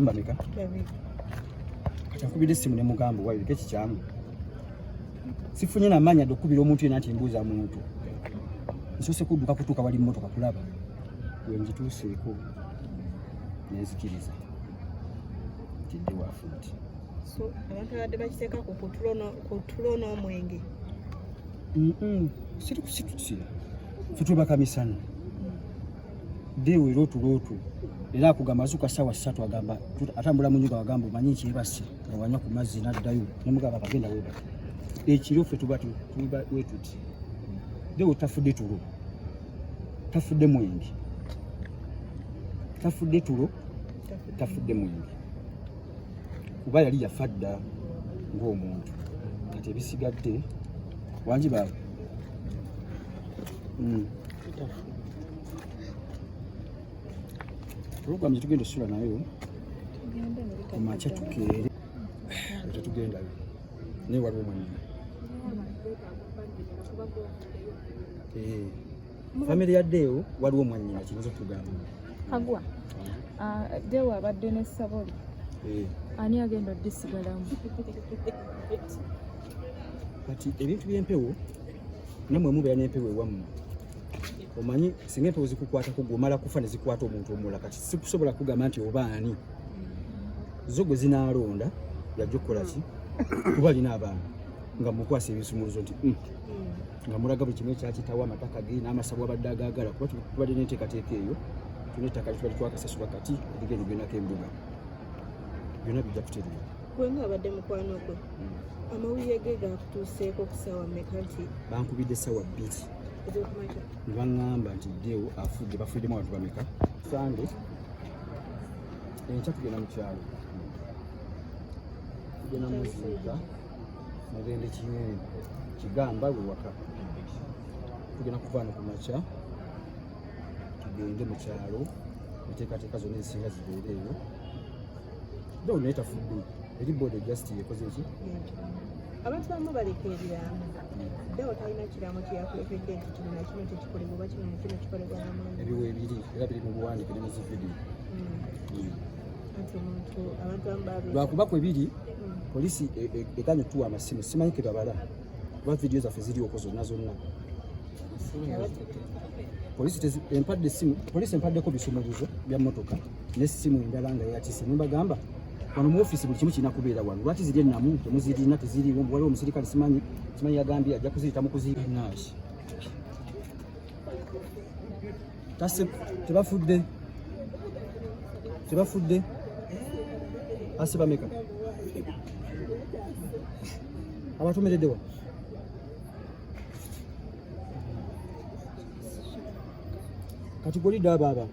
namba meka kakubidde essimu ne mugamba wabiriko ekikyamu sifunye namanya dde okukubira omuntu yena nti mbuuza muntu nsose kudduka kutuuka wali mmotoka kulaba wengituuseeko nenzikiriza tidde wafuti abantu abadde bakiteeka ku tulo n'omwenge situkusitusi fetwebakamisana Deo era otulotu era akugamba zuka sawa satu agamba atambula mu nyumba agamba omanyi nti ebase nga wanywa ku mazzi n'addayo nemugamba bagenda weba ekiro ffe tuba tuba wetuti Deo tafudde tulo tafudde mwenge tafudde tulo tafudde mwenge kuba yali yafa dda ng'omuntu kati ebisigadde wangi baaba mm. Program tugenda osula nayo kumakya tukeere tetugendayo naye waliwo mwanyina eh, famire ya deewo waliwo mwanyina kiyinza okugamba agwa ah, deewo abadde ne saboli eh. ani agenda odisigalamu kati ebintu byempewo namwe mubeera nempewo ewammwe omanyi singa empewo zikukwatako gwe omala kufa ne zikwata omuntu omulala kati sikusobola kugamba nti oba ani zo gwe zinaalonda yajja okukola ki kuba alina abaana nga mukwasa ebisumuluzo nti mm. nga mulaga buli kimu ekyakitawo amataka ge n'amasabwa abadde agaagala kuba tubadde n'enteekateeka eyo tuna ettaka litubadde twakasasula kati ebiga ebyo byonako embuga byonna bijja kutereera gwenga abadde mukwano gwe mm. amawulire ge gaakutuuseeko ku ssaawa mmeka nti bankubidde ssaawa bbiri bangamba nti deo afudde bafuddemu abantu bameka sande enkya tugenda mukyalo tugenda muziika mugende kinyonyi kigamba wewaka tugenda kuvaana ku makya tugende mu kyalo enteekateeka zonna ezisinga zibeereeyo Don't let her food be. Eri bodo just yekoze ki? Abantu bamu baleka ebiraamo. Deo talina kiraamo kye yakulekedde nti kino na kino tekikolebwa oba kino na kino kikolebwa na munne. Ebiwo ebiri era biri mu buwandiike ne mu zividiyo. lwakuba kwe biri poliisi eganye okutuwa amasimu simanyi ke babala kuba vidiyo zaffe zirioko zonna zonna poliisi empadde esimu poliisi empaddeko bisumuluzo bya mmotoka ne simu endala nga yatise nembagamba wano mu office buli kimu kirina kubeera wano lwaki ziri ennamu temuzirina teziriwo waliwo omusirikale simanyi simanyi yagambye ajja kuziyita mu kuziyita nash tase tebafudde tebafudde ase bameka abatumereddewa kati golidde abo aba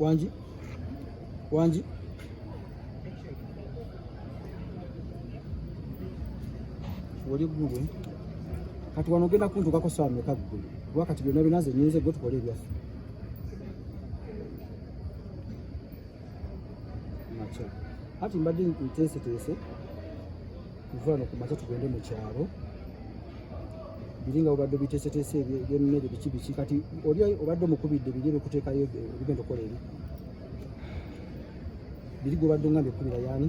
wangi wangi oli ggulu kati wano ogenda kuntuukako saawa meka ggulu kuba kati byonna binaze nyinze gwe tukole ebyaffe makya hati mbadde nteeseteese kuva no ku makya tugende mu kyalo biri nga obadde obiteeseteese ebyemmere biki biki kati oli obadde omukubidde biri ebikuteekayo ebigenda okukola ebi biri gwobadde nga mbikubira yaani